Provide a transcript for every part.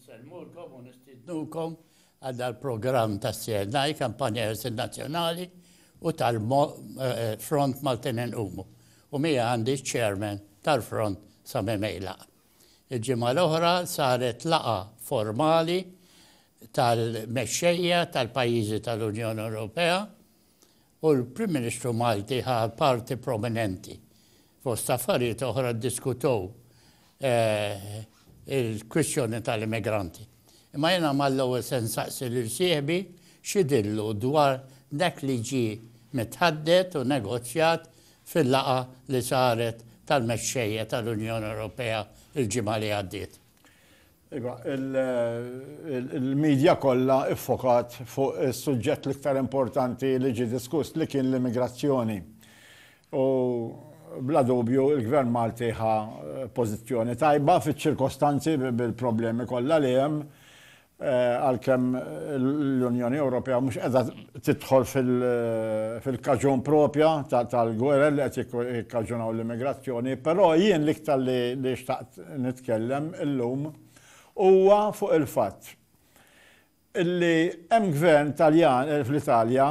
Insellmulkom u nistiednukom għal dal-programm tas-CNI, Kampanja Ħelsien Nazzjonali u tal-Front Maltin Inqumu, u miegħi għandi ċ-Chairman tal-Front Sami Meilaq. Il-ġimgħa l-oħra saret laqgħa formali tal-mexxejja tal-pajjiżi tal-Unjoni Ewropea, u l-Prim Ministru Malti ħa parti prominenti. Fost affarijiet oħra ddiskutew il-kwistjoni tal-immigranti. Imma jiena mal-ewwel se nsaqsi lil sieħbi x'idhirlu dwar dak li ġie mitħaddet u negozjat fil-laqgħa li saret tal-mexxejja tal-Unjoni Ewropea l-ġimgħa li għaddiet. Iva, il-medja kollha iffokat fuq is-suġġett l-iktar importanti li ġie diskuss li kien l-immigrazzjoni. U bla dubju il-Gvern Malti ħa pożizzjoni tajba fiċ-ċirkostanzi bil-problemi kollha li hemm għalkemm l-Unjoni Ewropea mhux qiegħda tidħol fil-kaġun propja tal-gwerer li qed jikkaġunaw l-immigrazzjoni, però jien l-iktar li xtaqt nitkellem illum huwa fuq il-fatt illi hemm gvern Taljan fl-Italja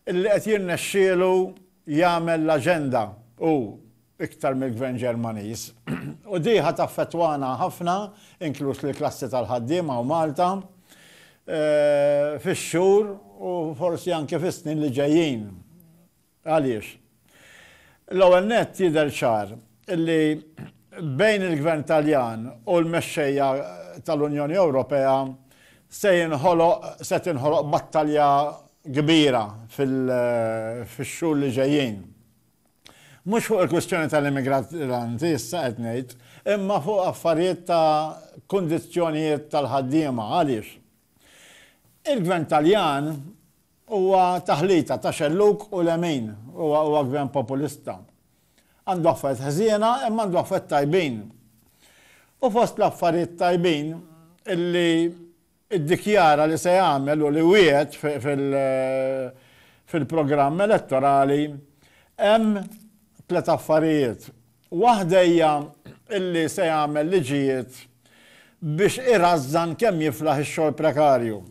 illi qed jirnexxielu jagħmel l-aġenda hu iktar mill-Gvern Ġermaniż. U di ħa taffettwana ħafna, inkluż lill-klassi tal-ħaddiema hawn Malta, fix-xhur u forsi anke fis-snin li ġejjin. Għaliex? L-ewwel nett jidher ċar li bejn il-Gvern Taljan u l-mexxejja tal-Unjoni Ewropea se jinħoloq, se tinħoloq battalja kbira fil-xhur li ġejjin. Mhux fuq il-kwistjoni tal-immigranti issa qed ngħid, imma fuq affarijiet ta' kundizzjonijiet tal-ħaddiema. Għaliex? Il-Gvern Taljan huwa taħlita ta' xellug u lemin. Huwa huwa Gvern populista. Għandu affarijiet ħżiena imma għandu affarijiet tajbin. U fost l-affarijiet tajbin illi iddikjara li se jagħmel u li wiegħed fil-programm elettorali, hemm tliet affarijiet. Waħda hija li se jagħmel liġijiet biex irażżan kemm jiflaħ ix-xogħol prekarju.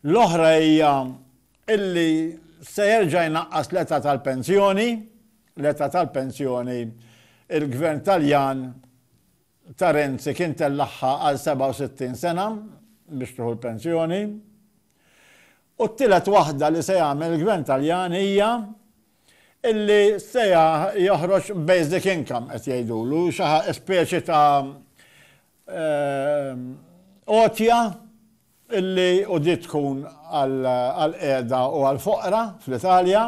L-oħra hija li se jerġa' jnaqqas l-età tal-pensjoni, l-età tal-pensjoni il-Gvern Taljan, ta' Renzi kien tellagħha għal 67 sena biex tieħu l-pensjoni. U t-tielet waħda li se jagħmel il-Gvern Taljan hija illi se joħroġ basic income qed jgħidulu, xi speċi ta' għotja illi u di tkun għall-qiegħda u għall-foqra fl-Italja.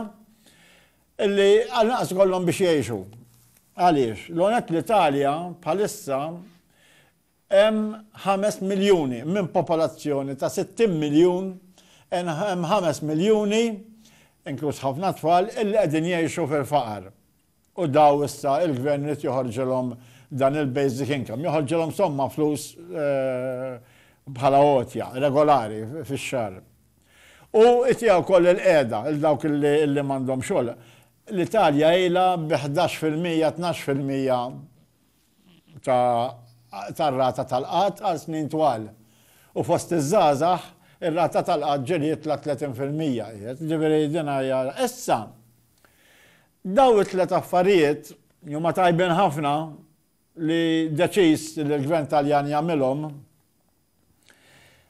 Illi għall-inqas ikollhom biex jgħixu. Għaliex, l-għonek l-Italja bħalissa hemm ħames miljuni minn popolazzjoni ta' sittin miljun, hemm ħames miljuni, inkluż ħafna tfal, illi qegħdin jgħixu fil-faqar. U daw issa il-Gvern irid joħorġilhom dan il-basic income, joħorġilhom somma flus bħala għotja regolari fix-xahar. U jtiha wkoll il-qiegħda lil dawk li m'għandhom xogħol. L-Italja ilha bi ħdax fil-mija, tnax fil-mija tar-rata tal-qgħad għal snin twal. U fost iż-żgħażagħ, ir-rata tal-qgħad ġriet la tletin fil-mija qiegħed. Jiġifieri din hija. Issa, dawn it-tliet affarijiet li huma tajbin ħafna li deċiż li l-Gvern Taljan jagħmilhom,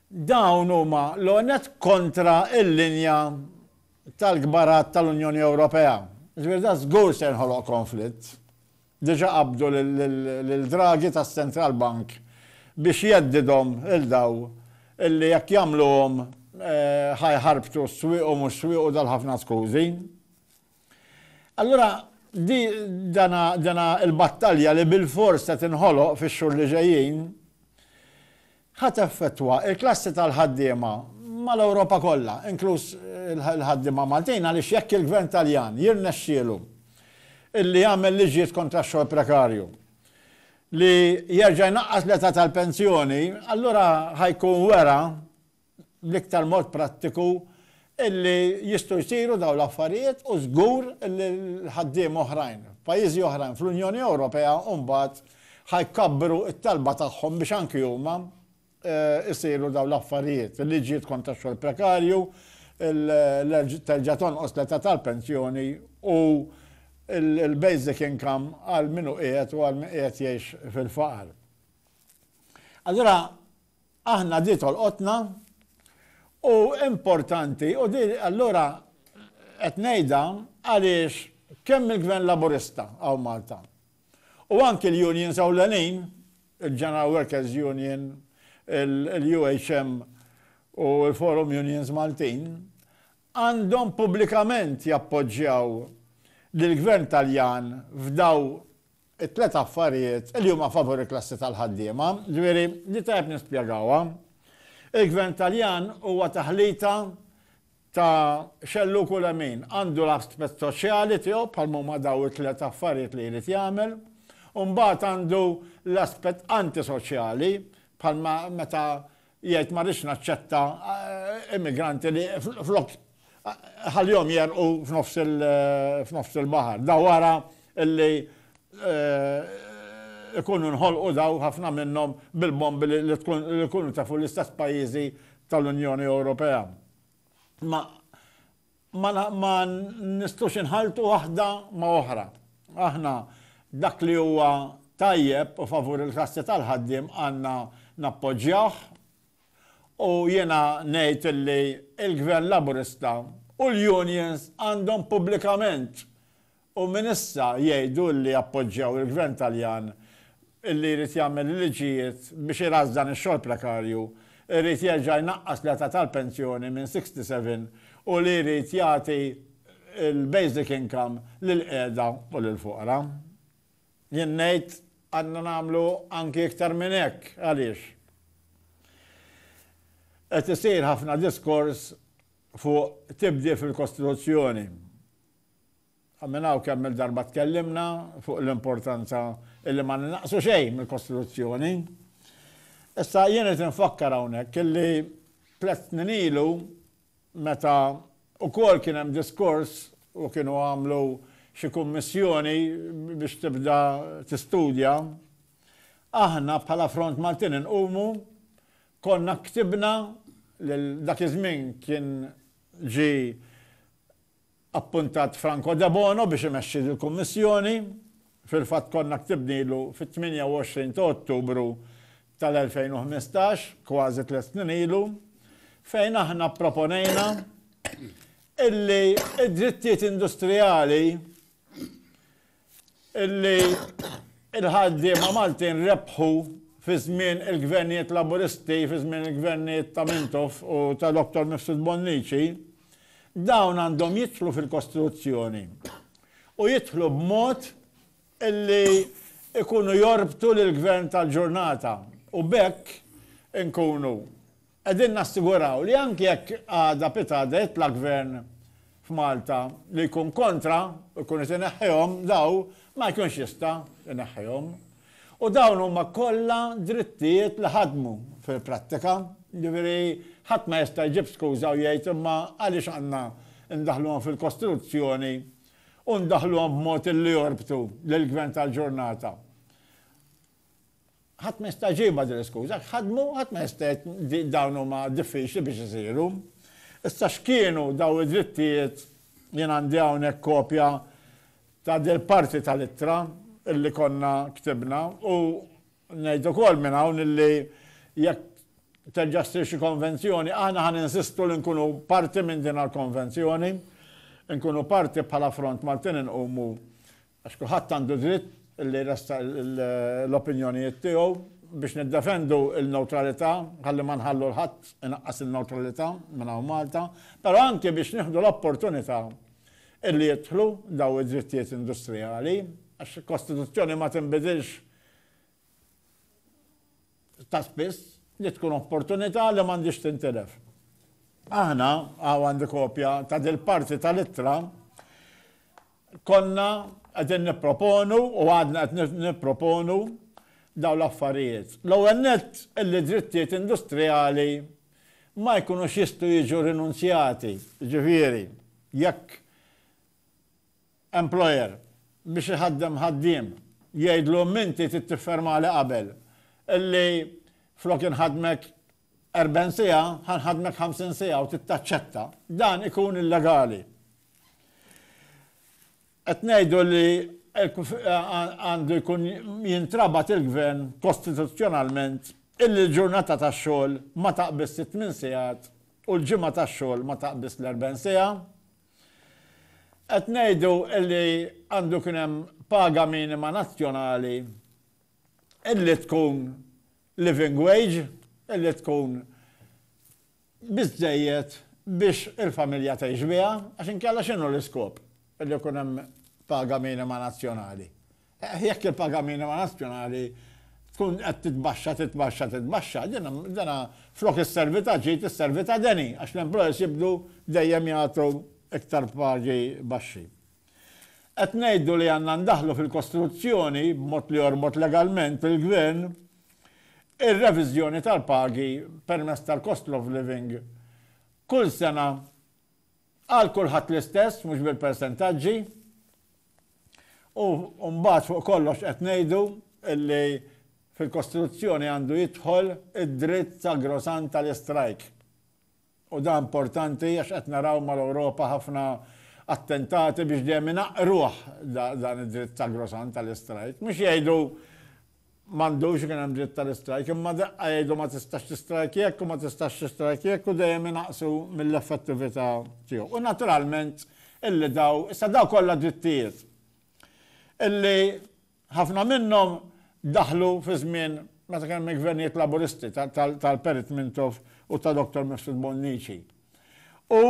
Dawn huma, l-ewwel nett, kontra l-linja tal-kbarat tal-Unjoni Ewropea. Jiġifieri dan żgur se jinħoloq konflitt. Diġà qabbdu lil Draghi tas-Central Bank biex jheddidhom lil dawn illi jekk jagħmluhom ħa jħarbtu s-swieq u mhux swiequ dal-ħafna skużi. Allura, dina l-battalja li bilfors se tinħoloq fix-xhur li ġejjin, ħa teffettwa l-klassi tal-ħaddiema mal-Ewropa kollha, inkluż il-ħaddiema Maltin, għaliex jekk il-Gvern Taljan jirnexxielu li jagħmel liġijiet kontra x-xogħol prekarju, li jerġa' jnaqqas l-età tal-pensjoni, allura ħa jkun wera, bl-iktar mod prattiku illi jistgħu jsiru dawn l-affarijiet u żgur illi l-ħaddiema oħrajn f'pajjiżi oħrajn fl-Unjoni Ewropea mbagħad ħa jkabbru t-talba tagħhom biex anki huma jsiru dawn l-affarijiet, il-liġijiet kontra x-xogħol prekarju, terġa' tonqos l-età tal-pensjoni u l-basic income għal min hu qiegħed u għal min qiegħed jgħix fil-faqar. Allura, Aħna di tolqotna u importanti u di allura qed ngħidha għaliex kemm il-Gvern Laburista hawn Malta u anki l-unions ewlenin, il-General Workers Union, il-UHM u l-Forum Unions Maltin, għandhom pubblikament jappoġġjaw lill-Gvern Taljan f'dawn it-tliet affarijiet li huma favur il-klassi tal-ħaddiema, ġifieri li tajjeb nispjegawha. Il-Gvern Taljan huwa taħlita ta' xellug u lemin. Għandu l-aspett soċjali tiegħu bħalma huma dawn it-tliet affarijiet li jrid jagħmel, u mbagħad għandu l-aspett antisoċjali bħalma meta Jgħid ma rridx naċċetta immigranti li flok ħallihom jegħrqu f'nofs il-baħar. Da wara li jkunu nħolqu daw ħafna minnhom bil-bombi li jkunu tefu l-istess pajjiżi tal-Unjoni Ewropea. Imma ma nistgħux inħalltu waħda ma' oħra. Aħna dak li huwa tajjeb u favur il-klassi tal-ħaddiem għandna nappoġġjawh u jiena ngħid li l-Gvern Laburista u l-unions għandhom pubblikament U minn issa jgħidu li jappoġġjaw il-Gvern Taljan illi jrid jagħmel il-liġijiet biex irażżan ix-xogħol prekarju, irid jerġa' jnaqqas l-età tal-pensjoni minn 67 u li jrid jagħti l-basic income lill-qiegħda u lill-foqra. Jien ngħid għandna nagħmlu anki iktar minn hekk. Għaliex? Qed isir ħafna diskors fuq tibdil fil-Kostituzzjoni. Minn hawn kemm-il darba tkellimna fuq l-importanza illi ma ninaqsu xejn mill-Kostituzzjoni. Issa jien irid infakkar hawnhekk illi tliet snin ilu meta ukoll kien hemm diskors u kienu għamlu xi kummissjoni biex tibda tistudja, aħna bħala Front Maltin Inqumu konna ktibna lil dak iż-żmien kien ġie appuntat Franco Debono biex imexxi dil-Kummissjoni. Fil-fatt konna ktibnilu fit-28 ta' Ottubru tal-2015, kważi tliet snin ilu, fejn aħna pproponejna illi d-drittijiet industrijali illi l-ħaddiema Maltin rebħu fi żmien il-Gvernijiet Laburisti, fi żmien il-Gvernijiet ta' Mintoff u ta' Dottor Mifsud Bonnici, dawn għandhom jidħlu fil-Kostituzzjoni u jidħlu b'mod illi jkunu jorbtu lill-Gvern tal-ġurnata u b'hekk inkunu Qegħdin nassiguraw li anki jekk għada pitgħada jitla' Gvern f'Malta li jkun kontra u jkun qed ineħħihom daw ma jkunx jista' jneħħihom. U dawn huma kollha drittijiet li ħadmu fil-prattika. Jiġifieri ħadd ma jista' jġib skuża u jgħid imma għaliex għandna ndaħħluhom fil-Kostituzzjoni u ndaħħluhom b'mod li jorbtu lill-Gvern tal-ġurnata Ħadd ma jista' jġibha din l-iskuża. Jekk ħadmu, ħadd ma jista' jgħid li dawn huma diffiċli biex isiru. Issa x'kienu dawn id-drittijiet? Jien għandi hawnhekk kopja ta' dil-parti tal-ittra li konna ktibna u ngħid ukoll minn hawn li jekk terġa' ssir xi konvenzjoni, aħna ħa ninsistu li nkunu parti minn din għall-konvenzjoni, inkunu parti bħala Front Maltin Inqumu Għax kulħadd għandu dritt li jressaq l-opinjonijiet tiegħu biex niddefendu l-newtralità, ħalli ma nħallu 'l ħadd inaqqas in-newtralità minn hawn Malta, però anki biex nieħdu l-opportunità li jidħlu dawn id-drittijiet industrijali, għax il-Kostituzzjoni ma tinbidilx ta' spiss, li tkun opportunità li m'għandhiex tintilef. Aħna, hawn għandi kopja ta' dil-parti tal-ittra, konna qegħdin nipproponu u għadna qed nipproponu dawn l-affarijiet. L-ewwel nett, illi drittijiet industrijali ma jkunux jistgħu jiġu rinunzjati, jiġifieri jekk employer, biex iħaddem ħaddiem, jgħidlu inti trid tiffermali qabel illi flok inħaddmek erbgħin siegħa, ħa nħaddmek ħamsin siegħa u trid taċċetta, dan ikun illegali. Qed ngħidu li għandu jkun jintrabat il-Gvern kostituzzjonalment illi l-ġurnata tax-xogħol ma taqbiżx it-tmien sigħat u l-ġimgħa tax-xogħol ma taqbiżx l-erbgħin siegħa, Qed ngħidu li għandu jkun hemm paga minima nazzjonali li tkun living wage, li tkun biżżejjed biex il-familja tgħix biha, għax inkella x'inhu l-iskop li jkun hemm paga minima nazzjonali? Jekk il-paga minima nazzjonali tkun qed titbaxxa, titbaxxa, titbaxxa, dina flok isservi ta' ġid isservi ta' deni għax l-employers jibdu dejjem jagħtu iktar pagi baxxi. Qed ngħidu li għandna ndaħħlu fil-kostruzzjoni, b'mod li jorbot legalment il-Gvern, ir-reviżjoni tal-pagi permezz tal-cost of living kull sena Għal kulħadd l-istess, mhux bil-persentaġġi. U mbagħad fuq kollox qed ngħidu li fil-kostruzzjoni għandu jidħol id-dritt sagrosant tal-istrajk. U dan importanti għax qed naraw mal-Ewropa ħafna attentati biex dejjem inaqqruh dan id-dritt sagrosant tal-istrajk. Mhux jgħidu M'għandux ikun hemm dritt tal-istrajk, imma daqqa jgħidu ma tistax tistrajk jekk u ma tistax tistrajk jekk u dejjem inaqqsu mill-effettività tiegħu. U naturalment illi daw, issa daw kollha drittijiet illi ħafna minnhom daħlu fi żmien meta kien hemm il-gvernijiet Laburisti tal-Perit Mintoff u ta' Dottor Mifsud Bonnici. U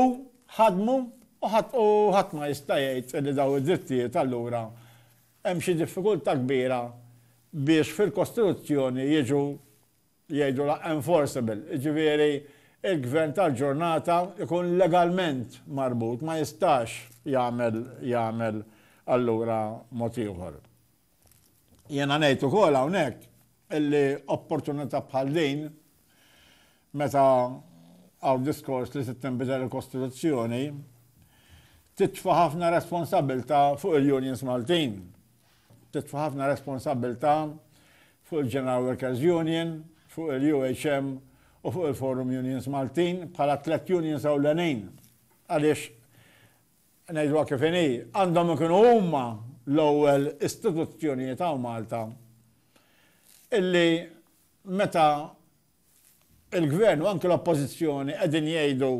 ħadmu u ħadd ma jista' jgħid illi daw id-drittijiet allura Hemm xi diffikultà kbira biex fil-Kostituzzjoni jiġu, jgħidulha enforceable, jiġifieri l-gvern tal-ġurnata jkun legalment marbut, ma jistax jagħmel jagħmel allura mod ieħor. Jiena ngħid ukoll hawnhekk illi opportunità bħal din Meta hawn diskors li trid tinbidel il-Kostituzzjoni, titfa' ħafna responsabbiltà fuq il-unions Maltin. Titfa' ħafna responsabbiltà fuq il-General Workers Union, fuq il-UHM u fuq il-Forum Unions Maltin bħala t-tliet unions ewlenin. Għaliex, ngħidluha kif inhi, għandhom ikunu huma l-ewwel istituzzjonijiet hawn Malta illi meta Il-Gvern u anki l-Oppożizzjoni qegħdin jgħidu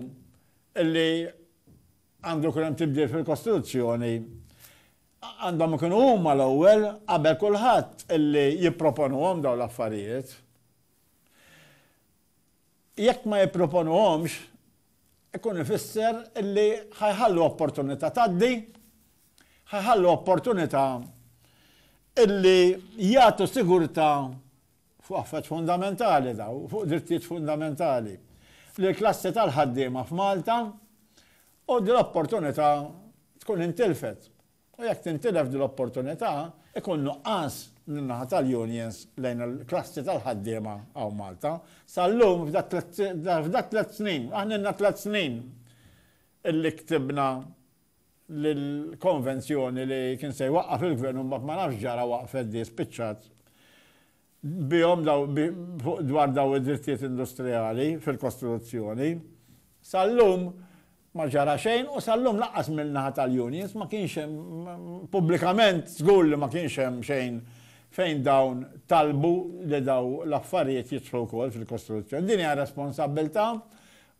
li għandu jkun hemm tibdil fil-Kostituzzjoni, għandhom ikunu huma l-ewwel qabel kulħadd li jipproponuhom dawn l-affarijiet. Jekk ma jipproponuhomx, ikun ifisser li ħa jħallu opportunità tgħaddi, ħa jħallu opportunità li jagħtu sigurtà fuq affarijiet fundamentali dawn, fuq drittijiet fundamentali, lill-klassi tal-ħaddiema f'Malta u din l-opportunità tkun intilfet. U jekk tintilef din l-opportunità, ikun nuqqas min-naħa tal-unions lejn il-klassi tal-ħaddiema hawn Malta. Sal-lum, f'dak tliet snin, aħna ilna tliet snin illi ktibna l-konvenzjoni li kien se jwaqqaf il-gvern u mbagħad ma nafx ġara waqfet di spiċċat bihom dwar dawn id-drittijiet industrijali fil-kostruzzjoni. Sal-lum ma ġara xejn u sal-lum lanqas min-naħa tal-unions ma kienx hemm pubblikament żgur li ma kienx hemm xejn fejn dawn talbu li dawn l-affarijiet jidħlu wkoll fil-kostruzzjoni. Din hija responsabbiltà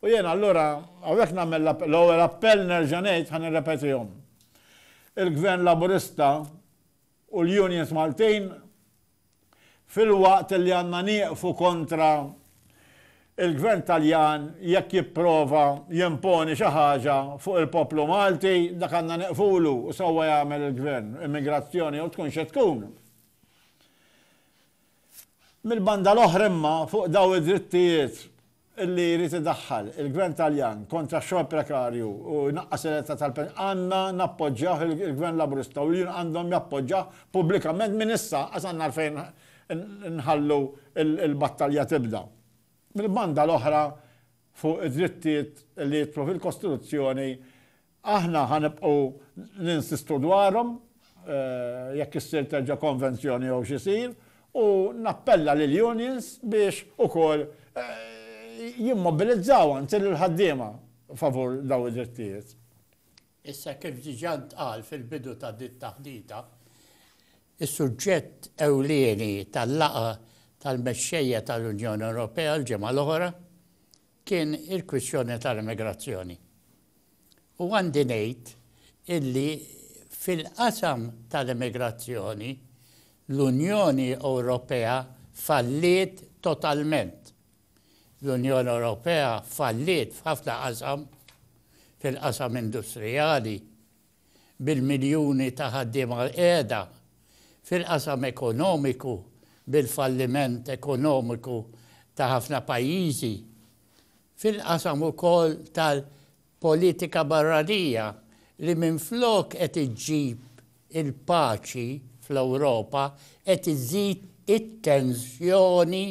U jiena allura hawnhekk nagħmel l-ewwel appell nerġa' ngħid ħa nirrepetihom. Il-Gvern Laburista u l-unions Maltin filwaqt li għandna nieqfu kontra il-Gvern Taljan jekk jipprova jimponi xi ħaġa fuq il-poplu Malti, dak għandna nieqfulu u sewwa jagħmel il-Gvern, immigrazzjoni jew tkun xi tkun. Mill-banda l-oħra imma fuq dawn id-drittijiet li jrid idaħħal il-Gvern Taljan kontra x-xogħol prekarju u jnaqqas l-età tal-pensjoni, għandna nappoġġjawh, il-Gvern Laburista u l-union għandhom jappoġġawh pubblikament minn issa, lanqas għandna għalfejn nħallu l-battalja tibda. Mill-banda l-oħra, fuq id-drittijiet li jidħlu fil-Kostituzzjoni, Aħna ħa nibqgħu ninsistu dwarhom, jekk issir terġa' konvenzjoni jew x'isir, u nappella lill-unions biex ukoll jimmobilizzaw anzi lill-ħaddiema favur dawn id-drittijiet. Issa kif diġà ntqal fil-bidu ta' din it-taħdita, is-suġġett ewlieni tal-laqgħa tal-mexxejja tal-Unjoni Ewropea l-ġimgħa l-oħra kien il-kwistjoni tal-immigrazzjoni. U għandi ngħid illi fil-qasam tal-immigrazzjoni, l-Unjoni Ewropea falliet totalment. L-Unjoni Ewropea falliet f'ħafna qasam, fil-qasam industrijali, bil-miljuni ta' ħaddiema qiegħda, fil-qasam ekonomiku, bil-falliment ekonomiku ta' ħafna pajjiżi, fil-qasam ukoll tal-politika barranija li minflok qed iġġib il-paċi fl-Ewropa qed iżżid it-tensjoni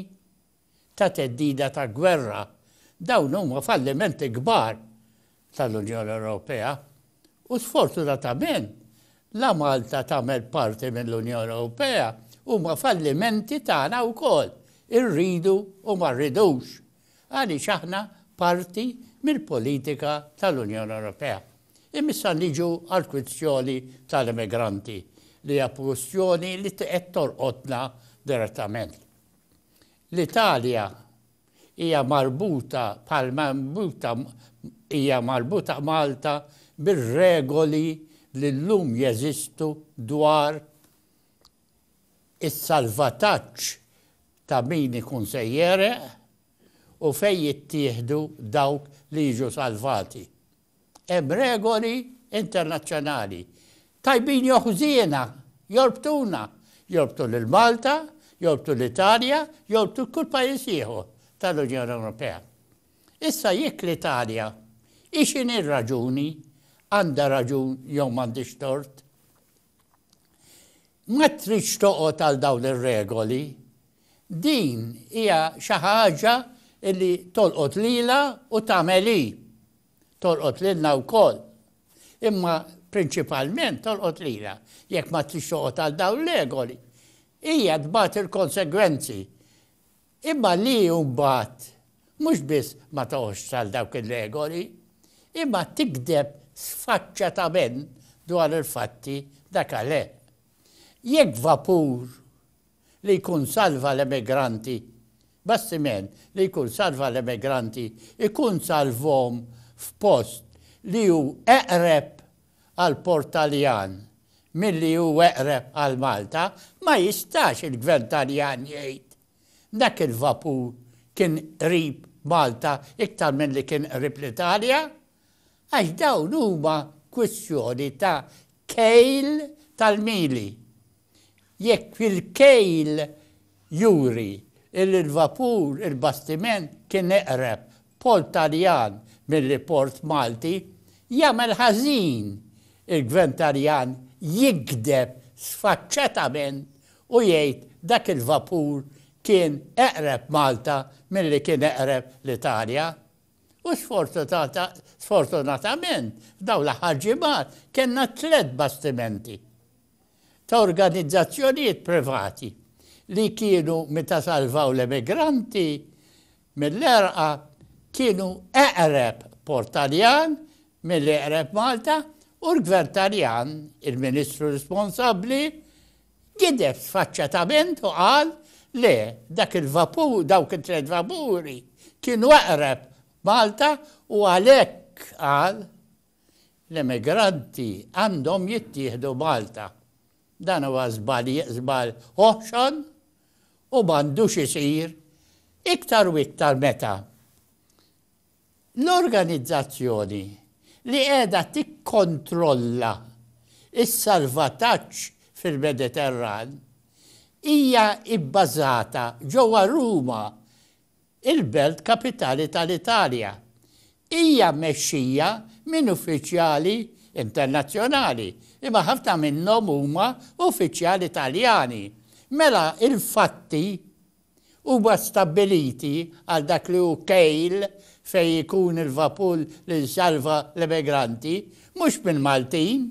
ta' theddida ta' gwerra. Dawn huma fallimenti kbar tal-Unjoni Ewropea u sfortunatament la Malta tagħmel parti mill-Unjoni Ewropea huma fallimenti tagħna wkoll, irridu u ma rridux, għaliex aħna parti mill-politika tal-Unjoni Ewropea. Imma issa niġu għall-kwistjoni tal-immigranti li hija kwistjoni li qed torqodna direttament. L-Italja Hija marbuta bħalma marbuta hija marbuta Malta bir-regoli li llum jeżistu dwar is-salvataġġ ta' min ikun se jegħreq u fejn jittieħdu dawk li jiġu salvati. Hemm regoli internazzjonali, tajbin jew ħżiena, jorbtuna, jorbtu lil Malta, jorbtu l-Italja, jorbtu kull pajjiż ieħor tal-Unjoni Ewropea. Issa jekk l-Italja, hi x'inhi r-raġuni, għandha raġun jew m'għandhiex tort, Ma tridx toqgħod għal dawn ir-regoli. Din hija xi ħaġa li tolqot lilha u tagħmel hi. Tolqot lilna wkoll. Imma prinċipalment tolqot lilha. Jekk ma tridx toqgħod għal dawn l-regoli, hija tbati l-konsegwenzi. Imma li mbagħad mhux biss ma toqgħodx għal dawk ir-regoli, imma tigdeb sfaċċatament dwar il-fatti dakaleeh. Jekk vapur li jkun salva l-emigranti, bastiment li jkun salva l-emigranti, ikun salvhom f'post li hu eqreb għall-port Taljan milli hu eqreb għal Malta, ma jistax il-Gvern Taljan jgħid dak il-vapur kien qrib Malta iktar milli kien qrib l-Italja, għax dawn huma kwistjoni ta' kejl tal-mili. Jekk il-kejl juri illi l-vapur, il-bastiment, kien eqreb port Taljan milli port Malti, jagħmel ħażin il-Gvern Taljan jigdeb sfaċċatament u jgħid dak il-vapur kien eqreb Malta milli kien eqreb l-Italja. U sfortunatament f'dawn l-aħħar ġimgħat kellna tliet bastimenti. ta' organizzazzjonijiet privati li kienu meta salvaw l-emigranti mill-għerqa kienu eqreb port Taljan milli eqreb Malta u l-Gvern Taljan, il-Ministru responsabbli, gideb sfaċċatament u qal le dak il-vapur, dawk it-tliet vapuri kienu eqreb Malta u għalhekk qal L-immigranti għandhom jittieħdu Malta. Dan huwa żball żball oħxon u m'għandux isir iktar u iktar meta l-organizzazzjoni li qiegħda tikkontrolla s-salvataġġ fil-Mediterran hija bbażata ġewwa Ruma il-belt kapitali tal-Italja, hija mmexxija minn uffiċjali internazzjonali, imma ħafna minnhom huma uffiċjali Taljani. Mela l-fatti huma stabbiliti għal dak li hu kejl fejn ikun il-vapur li jsalva l-emigranti, mhux mill-Maltin.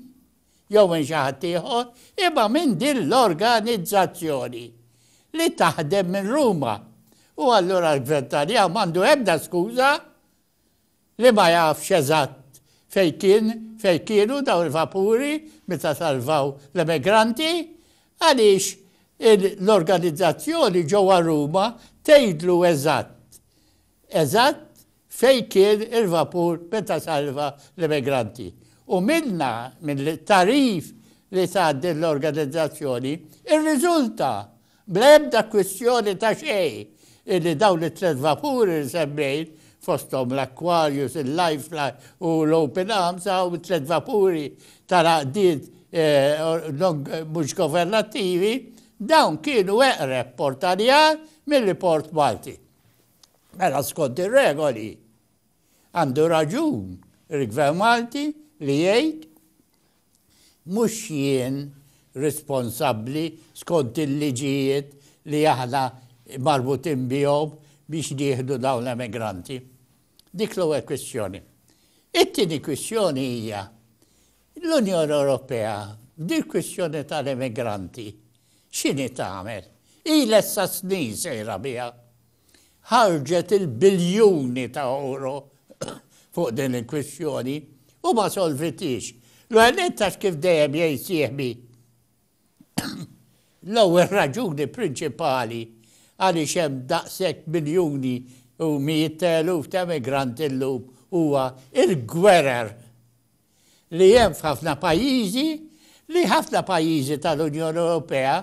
jew minn xi ħadd ieħor, imma minn din l-organizzazzjoni li taħdem minn Ruma. U allura l-Gvern Taljan m'għandu ebda skuża li ma jafx eżatt fejn kien, fejn kienu dawn il-vapuri meta salvaw l-emigranti, għaliex l-organizzazzjoni ġewwa Ruma tgħidlu eżatt, eżatt fejn kien il-vapur meta salva l-immigranti u minnha, mill-tagħrif li tat din l-organizzazzjoni, irriżulta, bla ebda kwistjoni ta' xejn, illi dawn it-tliet vapuri li semmejt, fosthom l-Aquarius, il-Lifefly u l-Open Arms, hawn it-tliet vapuri tal-għaqdiet mhux governattivi, dawn kienu eqreb Port Għaljar milli Port Malti. Mela skont ir-regoli għandu raġun il-Gvern Malti li jgħid mhux jien responsabbli skont il-liġijiet li aħna marbutin bihom biex nieħdu dawn l-emigranti. Dik l-ewwel kwistjoni. It-tieni kwistjoni hija L-Unjoni Ewropea b'dil-kwistjoni tal-immigranti x'inhi tagħmel? Ilha issa snin sejra biha. Ħarġet il-biljuni ta' ewro fuq din il-kwistjoni u ma solvithiex. L-ewwel nett għax kif dejjem jgħid sieħbi l-ewwel raġuni prinċipali għaliex hemm daqshekk miljuni u mijiet ta' eluf ta' immigranti llum huwa l-gwerer li hemm f'ħafna pajjiżi li ħafna pajjiżi tal-Unjoni Ewropea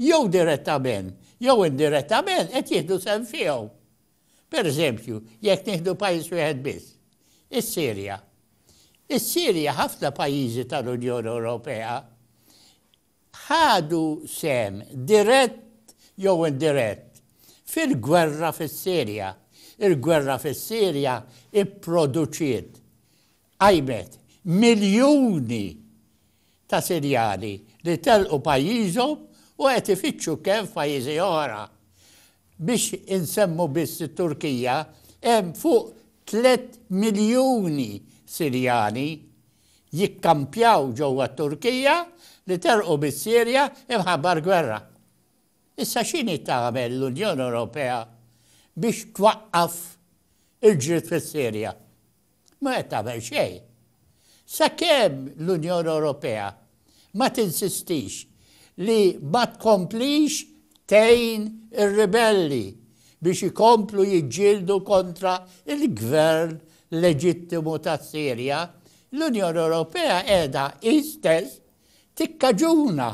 jew direttament jew indirettament qed jieħdu sehem fihom. Per eżempju, jekk nieħdu pajjiż wieħed biss, is-Sirja. Is-Sirja ħafna pajjiżi tal-Unjoni Ewropea ħadu sehem dirett jew indirett fil-gwerra fis-Sirja. Il-gwerra fis-Sirja pproduċiet, qajmet, miljuni ta' Sirjani li telqu pajjiżhom u qed ifittxu kenn f'pajjiżi oħra. Biex insemmu biss it-Turkija, hemm fuq tliet miljuni Sirjani jikkampjaw ġewwa t-Turkija li telqu mis-Sirja imħabba l-gwerra. Issa x'inhi tagħmel l-Unjoni Ewropea biex twaqqaf il-ġlied fis-Sirja? Ma qed tagħmel xejn. Sakemm l-Unjoni Ewropea Ma tinsistix li ma tkomplix tgħin ir-ribelli biex ikomplu jiġġieldu kontra l-gvern leġittimu tas-Sirja, l-Unjoni Ewropea qiegħda hi stess tikkaġuna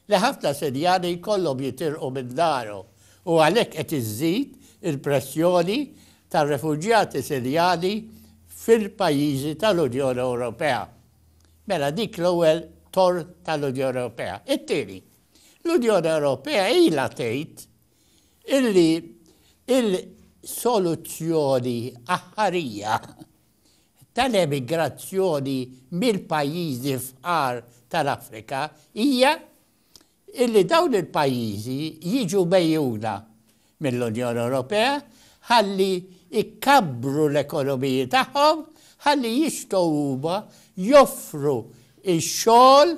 li ħafna Sirjani jkollhom jitilqu minn darhom u għalhekk qed iżżid il-pressjoni tar-refuġjati Sirjani fil-pajjiżi tal-Unjoni Ewropea. Mela dik l-ewwel tort tal-Unjoni Ewropea. It-tieni, l-Unjoni Ewropea ilha tgħid illi il-soluzzjoni aħħarija tal-emigrazzjoni mill-pajjiżi fqar tal-Afrika hija illi dawn il-pajjiżi jiġu megħjuna mill-Unjoni Ewropea ħalli jkabbru l-ekonomiji tagħhom ħalli jistgħu huma joffru x-xogħol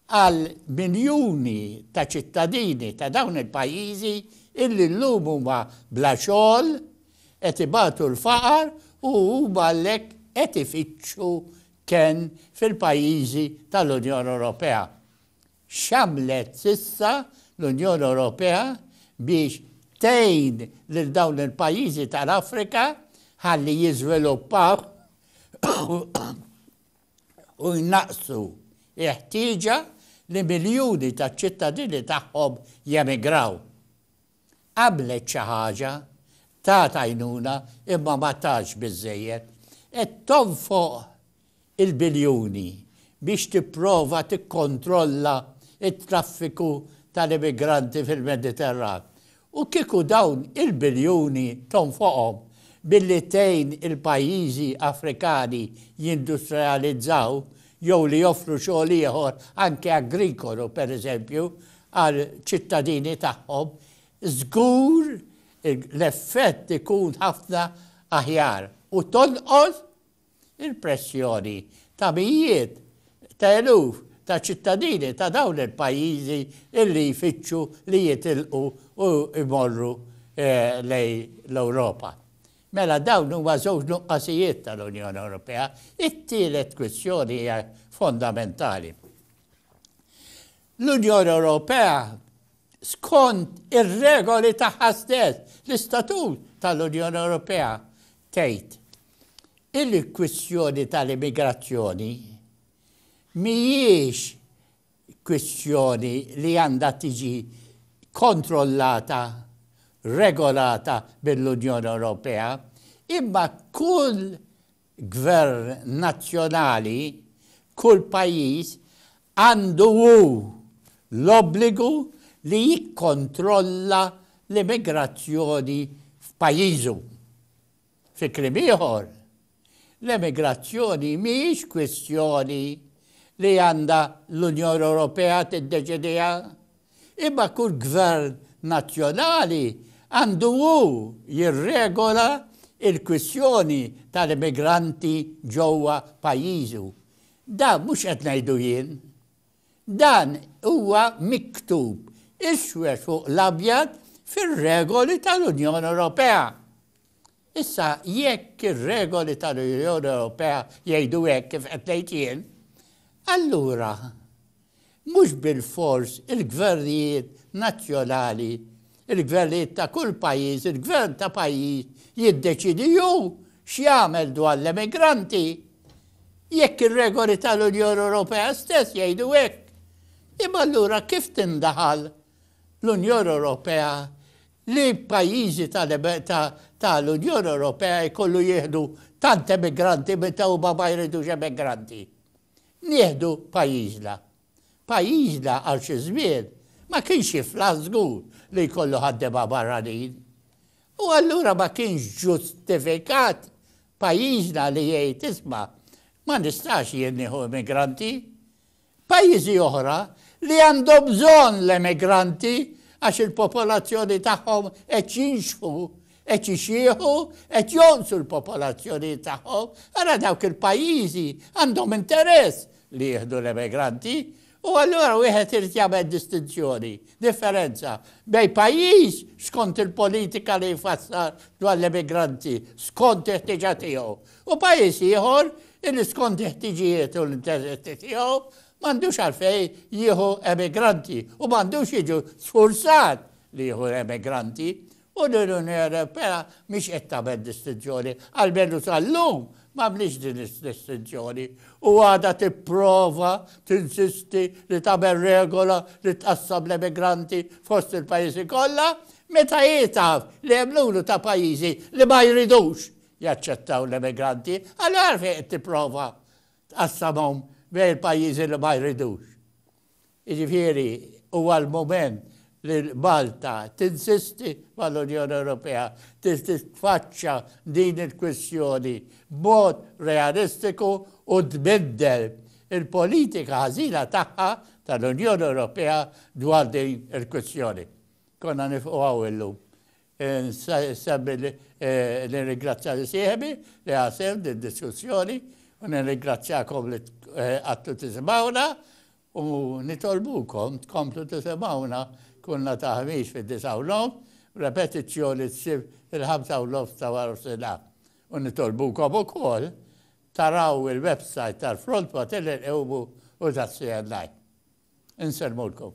għal miljuni ta' ċittadini ta' dawn il-pajjiżi illi llum huma bla xogħol Qed ibatu l-faqar u huma għalhekk qed ifittxu kenn fil-pajjiżi tal-Unjoni Ewropea. X'għamlet s'issa l-Unjoni Ewropea biex tgħin lil dawn il-pajjiżi tal-Afrika ħalli jiżviluppaw u jnaqqsu l-ħtieġa li miljuni taċ-ċittadini tagħhom jemigraw? Għamlet xi ħaġa, tat għajnuna imma ma tatx biżżejjed. Qed tonfoq il-biljuni biex tipprova tikkontrolla t-traffiku tal-immigranti fil-Mediterran. U kieku dawn il-biljuni tonfoqhom billi tgħin il-pajjiżi Afrikani jindustrializzaw jew li joffru xogħol ieħor anke agrikolu pereżempju għal ċittadini tagħhom, żgur l-effett ikun ħafna aħjar u tonqos il-pressjoni ta' mijiet ta' eluf ta' ċittadini ta' dawn il-pajjiżi illi jfittxu li jitilqu u jmorru lejn l-Ewropa. Mela dawn huma żewġ nuqqasijiet tal-Unjoni Ewropea. It-tielet kwistjoni hija fondamentali. L-Unjoni Ewropea skont ir-regoli tagħha stess, l-Istatut tal-Unjoni Ewropea tgħid il-kwistjoni tal-immigrazzjoni mhijiex kwistjoni li għandha tiġi kontrollata, regolata mill-Unjoni Ewropea, imma kull gvern nazzjonali, kull pajjiż għandu hu l-obbligu li jikkontrolla l-immigrazzjoni f'pajjiżu. Fi kliem ieħor, L-emigrazzjoni mhijiex kwistjoni li għandha l-Unjoni Ewropea tiddeċidiha, imma kull gvern nazzjonali għandu hu jirregola l-kwistjoni tal-immigranti ġewwa pajjiżu. Dan mhux qed ngħidu jien. Dan huwa miktub iswed fuq l-abjad fir-regoli tal-Unjoni Ewropea. Issa, jekk ir-regoli tal-Unjoni Ewropea jgħidu hekk kif qed ngħid jien, allura mhux bilfors il-gvernijiet nazzjonali, il-gvernijiet ta' kull pajjiż, il-gvern ta' pajjiż jiddeċiedi hu x'jagħmel dwar l-emigranti, jekk ir-regoli tal-Unjoni Ewropea stess jgħidu hekk, imma allura kif tindaħal l-Unjoni Ewropea li pajjiżi ta' l-Unjoni Ewropea jkollu jieħdu tant emigranti meta huma ma jridux emigranti. Nieħdu pajjiżna. Pajjiżna għal xi żmien ma kienx jiflaħ żgur li jkollu ħaddiema barranin. U allura ma kienx ġustifikat pajjiżna li jgħid isma' ma nistax jien nieħu emigranti. Pajjiżi oħra li għandhom bżonn l-emigranti għax il-popolazzjoni tagħhom qed jinxħu, qed ixieħu, qed jonqsu l-popolazzjonijiet tagħhom, ara dawk il-pajjiżi għandhom interess li jieħdu l-emigranti u allura wieħed irid jagħmel distinzjoni, differenza, bejn pajjiż skont il-politika li jfassal dwar l-emigranti, skont il-ħtieġa tiegħu, U pajjiż ieħor li skond il-ħtiġijiet u l-interessi tiegħu m'għandux għalfejn jieħu emigranti u m'għandux jiġu sfurzat li jieħu emigranti u l-Unjoni Ewropea mhix qed tagħmel distinzjoni, almenu sal-lum m'għamlitx din id-distinzjoni u għadha tipprova tinsisti li tagħmel regola li tqassam l-emigranti fost il-pajjiżi kollha meta hi taf li hemm numru ta' pajjiżi li ma jridux jaċċettaw l-immigranti, allura għalfejn qed tipprova tqassamhom bejn il-pajjiżi li ma jridux? Jiġifieri huwa l-mument li Malta tinsisti mal-Unjoni Ewropea biex titfaċċa din il-kwistjoni b'mod realistiku u tbiddel il-politika ħażina tagħha tal-Unjoni Ewropea dwar din il-kwistjoni. Konna nifqu hawn illum. Insemmi li nirringrazzja lil sieħbi li ħa sehem f'did-diskussjoni u nirringrazzjakom li qgħadtu tisimgħuna u nitolbukom tkomplu tisimgħuna kull nhar ta' Ħamis fid-disgħa u nofs b'repetizzjoni s-Sibt fil-ħamsa u nofs ta' warof-sinhar u nitolbukom ukoll taraw il-websajt tal-Front Materni Nqewmu u tas-CNI. Insellmulkom.